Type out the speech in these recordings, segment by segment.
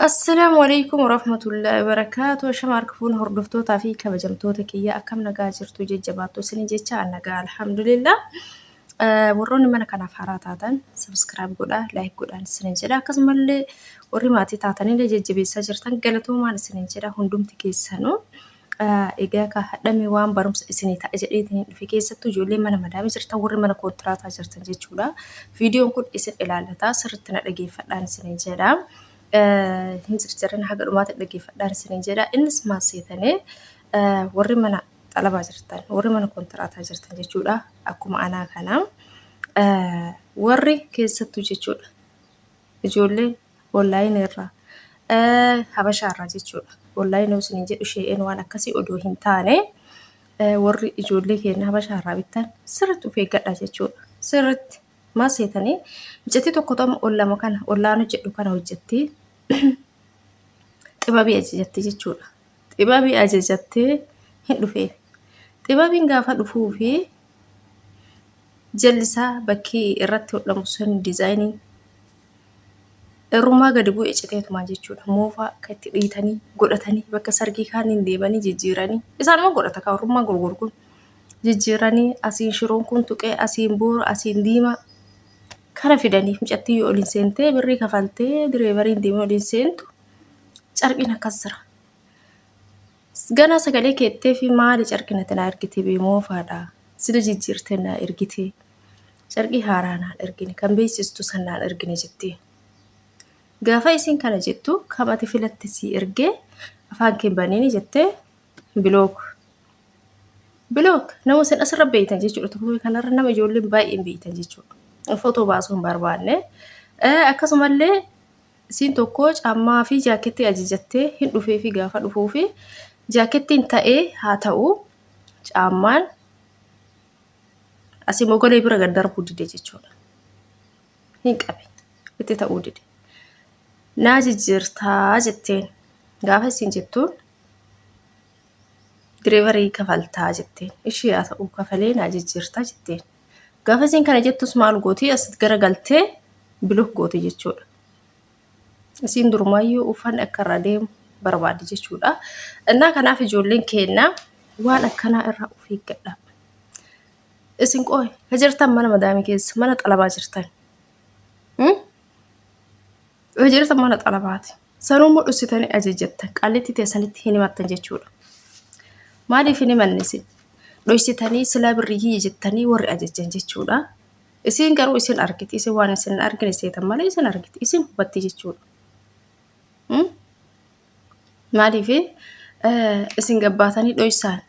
Assalaamu alaikum warahmatullahi wabarakaatu. Shama harka fuun hordoftootaa fi kabajamtoota kiyya akkam nagaa jirtu jajjabaattu isin jecha an nagaa alhamdulillah. Warroonni mana kanaaf haaraa taatan subscribe godha like godhaan isin jedha akkasumallee warri maatii taatanillee jajjabeessaa jirtan galatoomaan isin jedha hundumti keessanuu. Egaa kaa hadhame waan barumsa isinii ta'a jedheetiin dhufe keessattuu ijoollee mana madaamii jirtan warri mana koontiraataa jirtan jechuudha. Viidiyoon kun isin ilaallata sirriitti na dhageeffadhaan isiniin jedha. Hin circirin haga dhumaatti dhageeffadhaan isiniin jedha. Innis maal seetanii warri mana xalabaa jirtan warri mana koontiraataa jirtan jechuudha. Akkuma anaa kana warri keessattuu jechuudha. Ijoolleen Online irraa. Eh, Habashaa irraa jechuudha. Online yoo isiniin jedhu shee'een waan akkasii odoo hin taane eh, warri ijoollee keenya Habashaa irraa bittan sirriitti of eeggadha jechuudha. Sirriitti maal seetanii miccitii tokko ta'u ol lama kana ollaan hojjedhu kana hojjettee xibabii ajajattee jechuudha. Xibabii ajajattee hin dhufeef. Xibabiin gaafa dhufuu fi jallisaa bakkii irratti hodhamu sun diizaayiniin Irrumaa gadi bu'e citeetuma jechuudha. Moofaa akka itti dhiitanii godhatanii bakka sargii kaaniin deemanii jijjiiranii isaanuma godhata kan irrummaa gurguru kun jijjiiranii asiin shiroon kun tuqee asiin boora asiin diimaa kana fidanii mucattiin yoo oliin seentee birrii kafaltee direevariin deemee oliin seentu carqiin akkas jira. Ganaa sagalee keettee fi maali carqina tanaa ergitee bee moofaadha sila jijjiirtee naa ergitee. Carqii haaraa naan ergine, kan beeksistu san naan ergine jettiin. Gaafa isiin kana jettu kam ati filatte sii ergee afaan kee baniini jettee bilook. Bilook nama isin asirra beeytan jechuudha. Tukubii kanarra nama ijoolleen baay'een beeytan jechuudha. Footoo baasuu hin barbaanne. Eh, Akkasumallee isiin tokko caammaa fi jaakettii ajajattee hin dhufee fi gaafa dhufuu fi jaakettiin ta'ee haa ta'u caammaan Asii mogolee bira gad darbuu dide jechuudha. Hin qabe. Itti ta'uu dide. Naa jijjiirtaa jetteen. Gaafa isin jettuun direevarii kafaltaa jetteen. Ishii haa ta'u kafalee naa jijjiirtaa jetteen. Gaafa isin kana jettus maal gooti as garagaltee bilok gooti jechuudha. Isiin durumaayyuu uffanni akka irraa deemu barbaaddi jechuudha. Innaa kanaaf ijoolleen keenya waan akkanaa irraa of eeggadha. Isin qoy ha jirtan mana madaamii keessa mana xalabaa jirtan. Hmm? Ha jirtan mana xalabaati. Sanuummoo dhussitanii ajajjattan qallitti teessanitti hin himattan jechuudha. Maaliif hin himanne isin? Dhoysitanii silaa birrii kiyya jettanii warri ajajjan jechuudha. Isiin garuu isin argiti. Isin waan isin hin argine seetan malee isin argiti. Isin hubatti jechuudha. Hmm? Maaliif isin gabbaatanii dhoysaan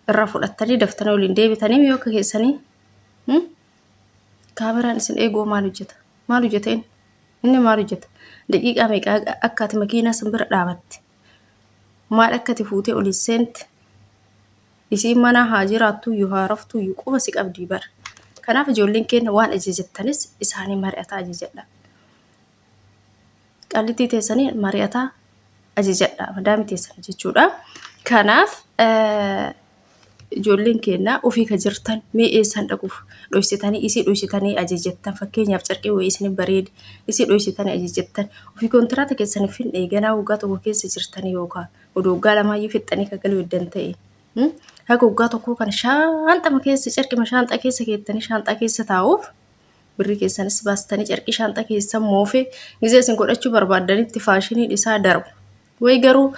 irra fudhattanii daftanii waliin deebitanii yoo keessanii hmm? kaameraan isin eeguu maal hojjeta? Maal hojjeta inni? Inni maal hojjeta? Daqiiqaa meeqaa akka ati makiinaa san bira dhaabatte? Maal akka ati fuutee oliin seente? isiin manaa haa jiraattuuyyu haa raftuuyyu quba si qabdii bar kanaaf ijoolleen keenya waan ajajattanis isaanii mari'ataa ajajadha qallittii teessanii mari'ataa ajajadha madaami teessan jechuudha kanaaf ijoolleen keenya ofii ka jirtan mee eessan dhaquuf dhoysitanii isii dhoysitanii ajajattan fakkeenyaaf carqii wayii isin bareedi isii dhoysitanii ajajattan ofii kontiraata keessaniif hin eeganaa waggaa tokko keessa jirtanii yookaan odoo waggaa lamaayyuu fixxanii kan galuu eddan ta'e mm, haga waggaa tokkoo kana shaanxama keessa carqima shaanxaa keessa keettanii shaanxaa keessa taa'uuf birrii keessanis baastanii carqii shaanxaa keessa moofee gizee isin godhachuu barbaaddanitti faashiniin isaa darbu. Way garuu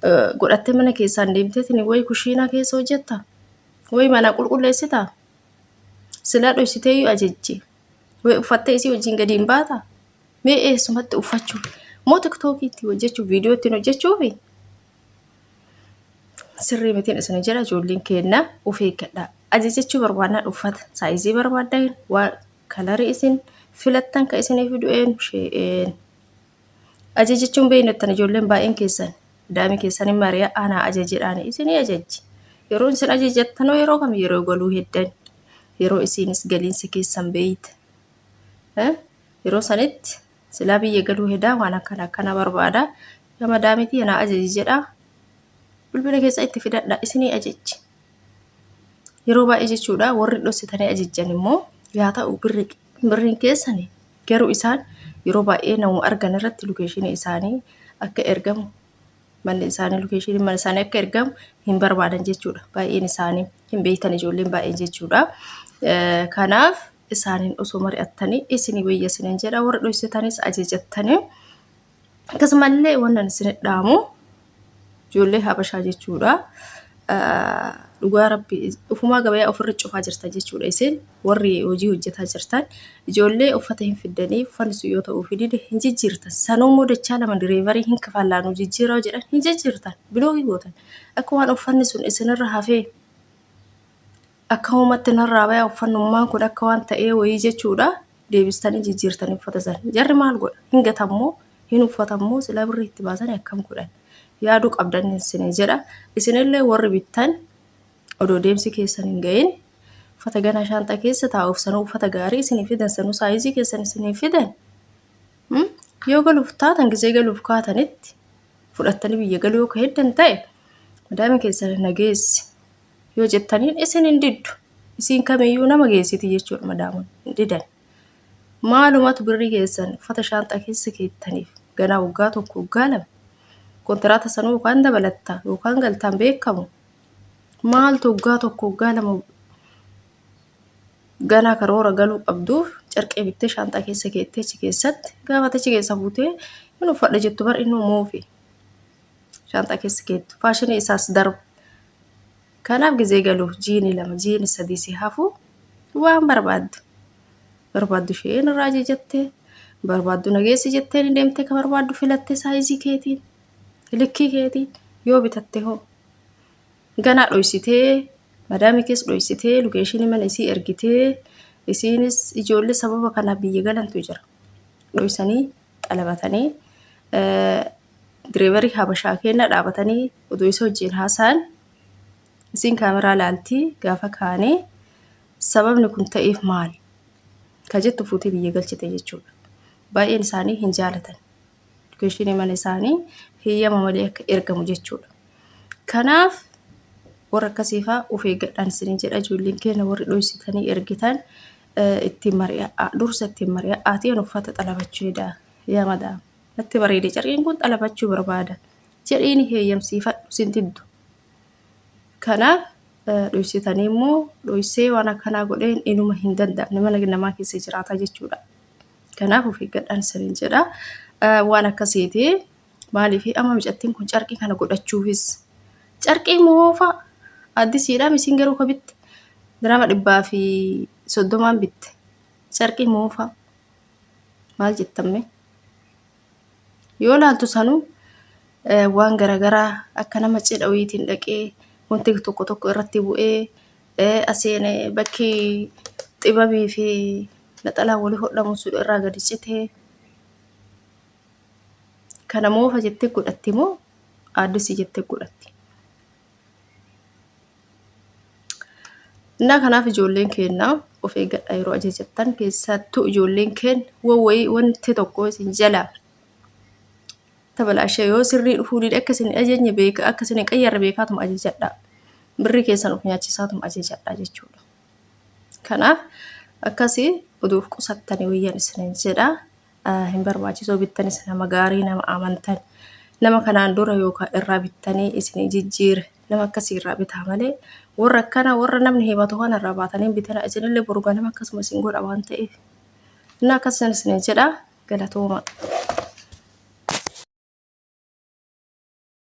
eh, godhattee mana keessaan deemteetiin way kushiinaa keessa hojjetta way manaa qulqulleessita silaa dhoysiteeyyuu ajajje way uffattee isii wajjin gadi hin baata. Mee eessumatti uffachuu? Moo tiktookii itti hojjechuu? Viidiyoo ittiin hojjechuufi? Sirrii mitiin isin jira ijoolleen keenna of eeggadhaa. Ajajachuu barbaannaan uffata saayizii barbaaddan waan kalarii isin filattan kan isiniif du'een shee'een. Ajajachuun beeknettan ijoolleen baay'een keessan daa'imni keessan hin mari'a aanaa ajajedhaan isinii ajajji. Yeroo isin ajajattanoo yeroo kam yeroo galuu heddan yeroo isiinis galiinsa keessan beeyta. Yeroo sanitti silaa biyya galuu hedaa waan akkana akkana barbaada. Yaa madaamitii anaa ajaji jedhaa. Bilbila keessa itti fidadha isinii ajajji. Yeroo baay'ee jechuudha warri dhossitanii ajajjan immoo yaa ta'u birri birriin keessani garuu isaan yeroo baay'ee nama argan irratti lokeeshinii isaanii akka ergamu manni isaanii lokeeshinii mana isaanii akka ergamu hin barbaadan jechuudha. Baay'een isaanii hin beektan ijoolleen baay'een jechuudha. Eh, Kanaaf isaaniin osoo mari'attanii isinii wayya isiniin jedha warra dhoysitanis ajajattanii akkasumallee wannan isin dhaamu ijoollee habashaa jechuudha dhugaa rabbi ufumaa gabayaa ofirra cufaa jirtan jechuudha isin warri hojii hojjetaa jirtan ijoollee uffata hin fiddanii uffanni sun yoo ta'uu fi dide hin jijjiirtan sanuu immoo dachaa lama direevarii hin kafallaanuu jijjiiraa jedhan hin jijjiirtan biloogii gootan akka waan uffanni sun isinirra hafee akkamumatti narraa baya uffannummaan kun akka waan ta'ee wayii jechuudha deebistanii jijjiirtanii uffata san jarri maal godha hin gatammoo hin uffatammoo sila birrii itti baasanii akkam godhan yaaduu qabdan isin jedha isinillee warri bittan odoo deemsi keessan hin ga'in uffata ganaa shaanxaa keessa taa'uuf sanuu uffata gaarii isinii fidan sanuu saayizii keessan isinii fidan Hmm? yoo galuuf taatan gisee galuuf kaatanitti fudhattanii biyya galuu yoo ka heddan ta'e madaami keessan nageessi yoo jettaniin isin hin diddu isiin kamiyyuu nama geessiti jechuudha madaamun hin didan maalumatu birrii keessan uffata shaanxaa keessa keettaniif ganaa waggaa tokko waggaa lama kontiraata sanuu yookaan dabalattaa yookaan galtaan beekamu maaltu waggaa tokko waggaa lama ganaa karoora galuu qabduuf carqee bittee shaanxaa keessa keetteechi keessatti gaafatachi keessa fuutee hin uffadha jettu bar inni moofi. shaanxaa keessa keettu faashinii isaas darbu kanaaf gizee galuuf jiini lama jiini sadii si hafu waan barbaaddu barbaaddu ishee irraa jettee barbaaddu nageessi jettee ni deemtee ka barbaaddu filattee saayizii keetiin likkii keetiin yoo bitatte hoo ganaa dhoysitee madaamii kees dhoysitee lukeeshinii mana isii ergitee isiinis ijoollee sababa kanaaf biyya galantu jira dhoysanii xalabatanii direevarii habashaa keenya dhaabatanii utuu isa wajjin haasa'an isiin kaameraa laaltii gaafa kaanee sababni kun ta'eef maal ka jettu fuutee biyya galchite jechuudha. Baay'een isaanii hin jaalatan. Edukeeshinii mana isaanii heeyyama malee akka ergamu jechuudha. Kanaaf warra akkasiifaa of eeggadhaan isiniin jedha ijoolleen keenya warri dhoysitanii ergitan ittiin mari'aa dursa ittiin mari'aa aatiin uffata xalabachuu hedaa yaa madaama. Natti bareede carqiin kun xalabachuu barbaada jedhii ni heeyyamsiifadhu sin diddu. Kanaaf dhoysitanii immoo dhoysee waan akkanaa godheen inuma hin danda'amne mana namaa keessa jiraata jechuudha. Kanaaf of eeggadhaan isiniin jedha. Waan akkasiiti maaliif amma mucattiin kun carqii kana godhachuufis carqii moofa addisiidhaam isin garuu ka bitte dirama dhibbaa fi soddomaan bitte carqii moofa maal jettamme yoo laaltu sanuu waan garagaraa akka nama cidha wayiitiin dhaqee wanti tokko tokko irratti bu'ee asiin bakki xibabii fi naxalaan walii hodhamu sun irraa gadi citee kana moofa jettee godhatti moo aaddisii jettee godhatti. Innaa kanaaf ijoolleen keenya of eeggadhaa yeroo ajajattan keessattuu ijoolleen keenya wawwayii wanti tokko isin jala tabalaashee yoo sirrii dhufuu dide akka isin ajajne beeka akka isin qayyarre beekaatuma ajajadhaa birrii keessan of nyaachisaatuma ajajadhaa jechuudha. Kanaaf akkasii oduuf qusattanii wayyan isinin jedhaa. hin barbaachisoo bittanis nama gaarii nama amantan nama kanaan dura yookaan irraa bittanii isinii jijjiire nama akkasii irraa bitaa malee warra akkana warra namni himatu kana irraa baatanii hin bitana isinillee boru ganama akkasuma isin godha waan ta'eef innaa akkasuma isin jedha galatooma.